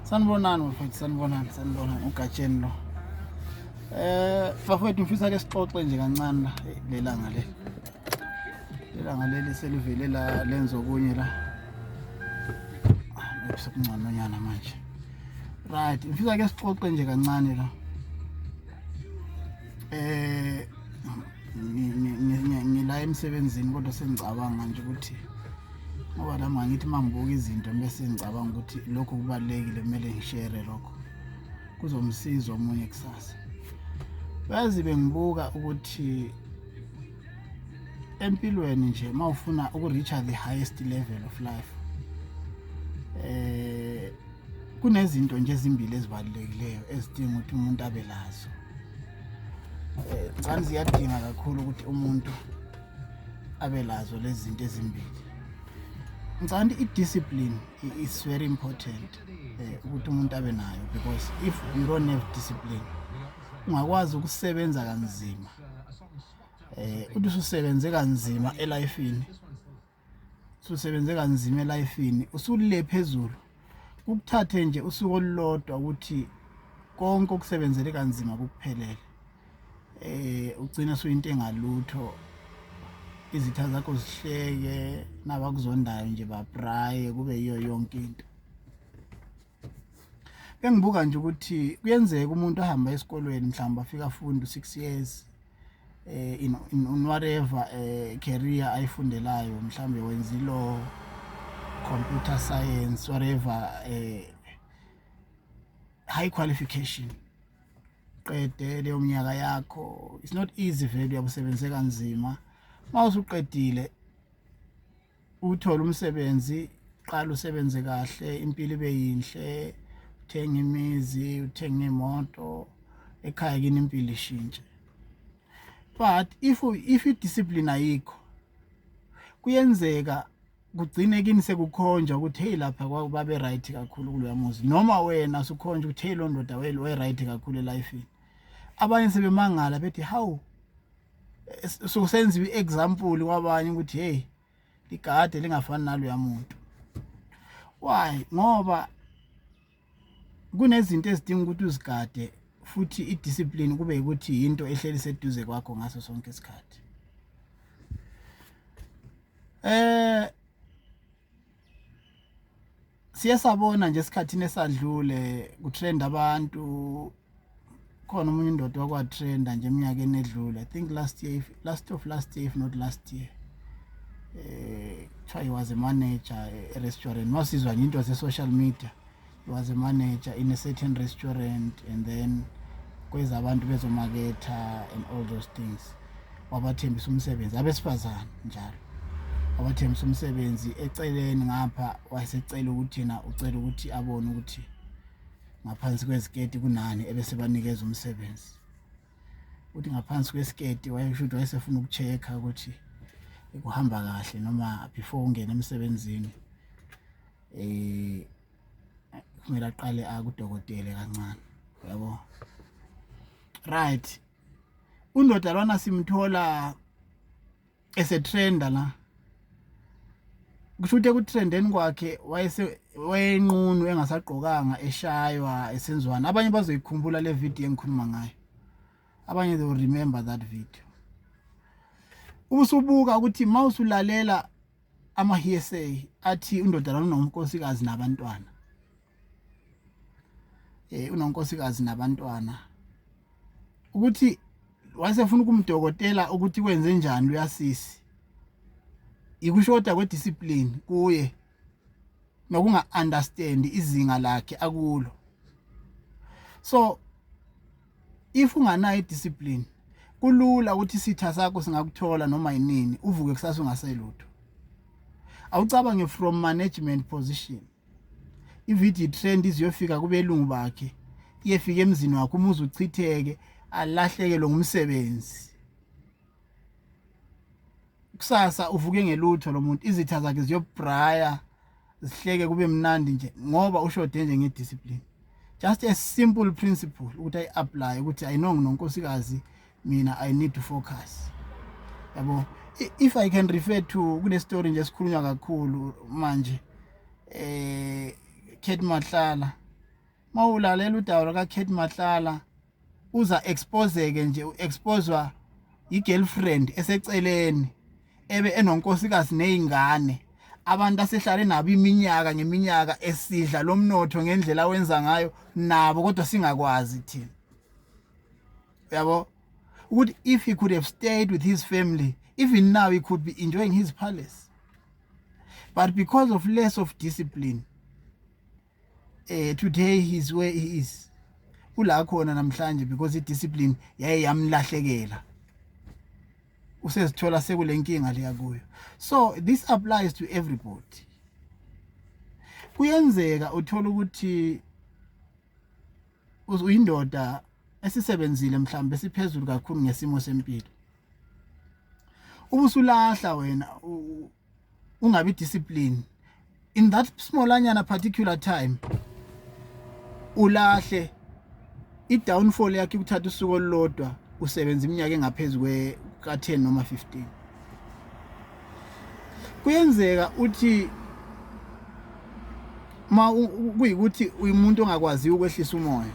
sanibonani mfowethu sanibonani sanibonani ugatsheni lo eh bafowethu ngifisa ke sixoxe nje kancane la lelanga le lelanga leli selivele la lenza okunye la sekunconyana manje right ngifisa ke sixoxe nje kancane la eh ngila emsebenzini kodwa sengicabanga nje ukuthi ngoba nami angithi uma ngibuka izinto bese ngicabanga ukuthi lokho kubalulekile kumele ngishere lokho kuzomsiza omunye kusasa bazi bengibuka ukuthi empilweni nje uma ufuna uku-reacha the highest level of life eh kunezinto nje ezimbili ezibalulekileyo ezidinga ukuthi umuntu abe lazo um eh, ngicani ziyadinga kakhulu ukuthi umuntu abe lazo lezi zinto ezimbili ngicabanga ukuthi i-discipline is very important um ukuthi umuntu abe nayo because if you don't have discipline ungakwazi ukusebenza kanzima um uthi ususebenze kanzima elifini ususebenze kanzima elifini usulile phezulu kukuthathe nje usuku olulodwa ukuthi konke okusebenzele kanzima kukuphelele eh ugcina suyinto engalutho izitha zakho zihleke nabakuzondayo nje babraye kube yiyo yonke into bengibuka nje ukuthi kuyenzeka umuntu ahambe esikolweni mhlawumbe afika afunde six years eh in, in, in whatever eh, career ayifundelayo mhlawumbe wenza ilaw computer science whatever eh, high qualification qede leyo mnyaka yakho it's not easy vele uyabusebenzeka kanzima mawusuqedile uthole umsebenzi qala usebenze kahle impilo ibe yinhle uthenga imizi uthenga imoto ekhaya kini impilo ishintshe but if if i-discipline ayikho kuyenzeka kugcine kini sekukhonjwa ukuthi hey lapha kwakubabe right kakhulu kuloya muzi noma wena sukhonjwa ukuthi hey londoda weli way right kakhulu elifini abanye sebemangala bethi hawu so senziwe i-example kwabanye ukuthi hey ligade lingafani naloya muntu why ngoba kunezinto ezidinga ukuthi uzigade futhi i-discipline kube ukuthi yinto ehleli seduze kwakho ngaso sonke isikhathi eh siye sabona nje esikhathini esadlule kutrend abantu khona umunye indoda wakwatrenda nje eminyakeni edlule i think last year if, last of last year if not last year eh kuthiwa he was a manager e-restaurant wasizwa nje into ze-social media was a manager in a certain restaurant and then kweza abantu bezomaketha and all those things wabathembisa umsebenzi abesifazane njalo wabathembisa umsebenzi eceleni ngapha wayesecela ukuthi yena ucela ukuthi abone ukuthi ngaphansi kweziketi kunani ebesebanikeza umsebenzi uthi ngaphansi kwesiketi wayesho ukuthi wayesefuna ukucheck-a ukuthi kuhamba kahle noma before ungena emsebenzini eh kumele aqale akudokotele kancane yabo right undoda lwana simthola esetrenda la kusho ukuthi ekutrendeni kwakhe wayenqunu engasagqokanga eshaywa esenziwani abanye bazoyikhumbula le video engikhuluma ngayo abanye they will remember that video ubusubuka ukuthi uma usulalela ama-hearsay athi undodana unonkosikazi nabantwana eh unonkosikazi nabantwana ukuthi wasefuna ukumdokotela ukuthi kwenze njani uyasisi ikushoda kwediscipline kuye nokunga understand izinga lakhe akulo so if unganayo idiscipline kulula ukuthi isitha sakho singakuthola noma yinini uvuke kusasa ungaselutho awucabange from management position ividiyo trend iziyofika kubelungu bakhe iyefika emzini wakho umuzi uchitheke alahlekelwe ngumsebenzi kusasa uvuke ngelutho lo muntu izitha zakhe ziyobraya zihleke kube mnandi nje ngoba ushode nje ngediscipline just a simple principle ukuthi ayi-aplaye ukuthi i know nginonkosikazi mina i need to focus yabo if i can refer to kunestory nje esikhulunywa kakhulu manje eh Kate Mahlala mawulalela udaba laka Kate Mahlala uza expose-ke nje u-expozwa yi-girlfriend eseceleni ebe enonkosikazi nezingane abantu asehlale nabo iminyaka ngeminyaka esidla lo mnotho ngendlela awenza ngayo nabo kodwa singakwazi thina uyabo ukuthi if he could have stayed with his family even now he could be enjoying his palace but because of less of discipline eh today he's where he is ula khona namhlanje because i discipline yaye yamlahlekela usezithola sekulenkinga leya kuyo so this applies to everybody kuyenzeka uthola ukuthi uyindoda esisebenzile mhlawumbe siphezulu kakhulu ngesimo sempilo ubusulahla wena ungabi discipline in that small anyana particular time ulahle i-downfall yakhe ukuthatha usuku olulodwa usebenza iminyaka engaphezu ka-10 noma 15 kuyenzeka uthi ma kuyikuthi uyimuntu ongakwaziyo ukwehlisa umoya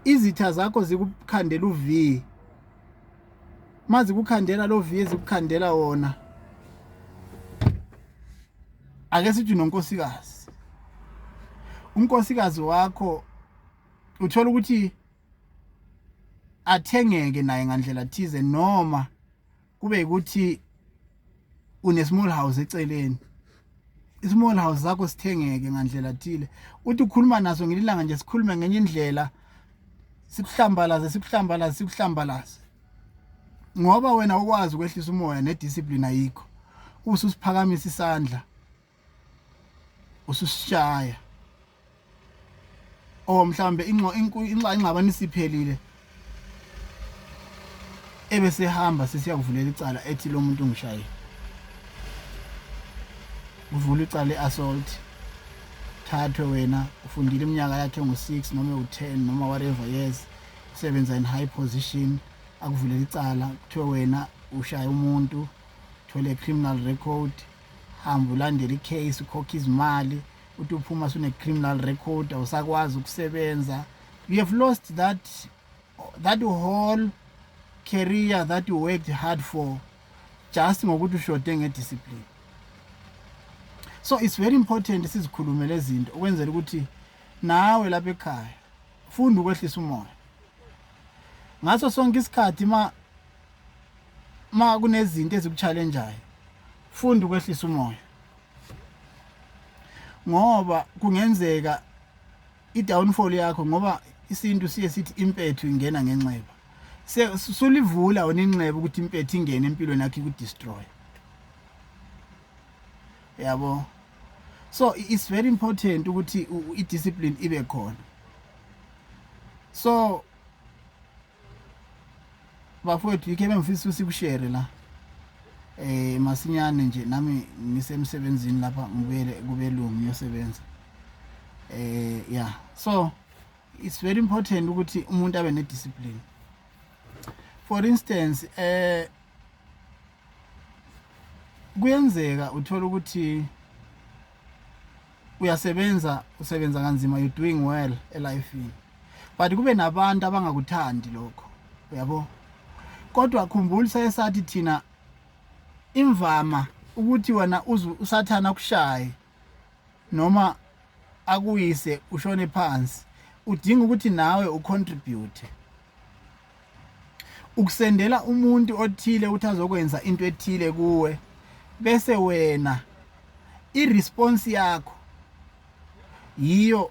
izitha zakho zikukhandela uvi mazi kukhandela lo vi ezikukhandela wona ake sithi nonkosikazi unkosikazi wakho uthola ukuthi athengeke naye ngandlela thize noma kube ukuthi une small house eceleni ismall house zakho sithengeke ngandlela thile uthi ukhuluma naso ngelilanga nje sikhulume ngenye indlela sikuhlambalaze sikuhlambalaze sikuhlambalaze ngoba wena ukwazi ukwehlisa umoya nediscipline ayikho ususiphakamisa isandla ususishaya or oh, mhlambe inxa ingxabano isiphelile ebe sehamba sisiya kuvulela icala ethi lo muntu ngishaye uvula icala i-assault thathwe wena ufundile iminyaka yakhe ngu-six noma ewu-ten noma whatever years usebenza in high position akuvulela icala kuthiwe wena ushaye umuntu thole criminal record hamba ulandele icase ukhokhe izimali uthi uphuma sune-criminal record awusakwazi ukusebenza you have lost that, that whole career that you worked hard for just ngokuthi ushode ngediscipline so it's very important sizikhulumele izinto ukwenzela ukuthi nawe lapha ekhaya funda ukwehlisa umoya ngaso sonke isikhathi ma uma kunezinto ezikuchallenjayo funda ukwehlisa umoya ngoba kungenzeka i-downfall yakho ngoba isintu siye sithi impethu ingena ngenxeba sulivula wena inxeba ukuthi impethu ingene empilweni yakho ikudestroy yabo so it's very important ukuthi i-discipline ibe khona so bafowethu yikho ebengifisa ukuthi sikushere la eh masinyane nje nami ngisemsebenzini lapha ngibuyele kubelungu ngiyosebenza eh yeah so it's very important ukuthi umuntu abe ne discipline for instance eh kuyenzeka uthola ukuthi uyasebenza usebenza kanzima you doing well elifini but kube nabantu abangakuthandi lokho uyabo kodwa khumbula sayesathi thina imvama ukuthi wena usathana akushaye noma akuyise ushone phansi udinga ukuthi nawe ucontribute ukusendela umuntu othile ukuthi azokwenza into ethile kuwe bese wena iresponse yakho yiyo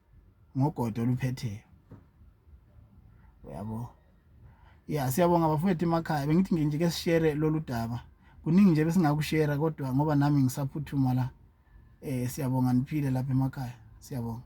ngogodo oluphetheyo uyabo ya siyabonga bafowethu emakhaya bengithi nginje ke sishere lolu daba kuningi nje besingakushera kodwa ngoba nami ngisaphuthuma la eh siyabonga niphile lapha emakhaya siyabonga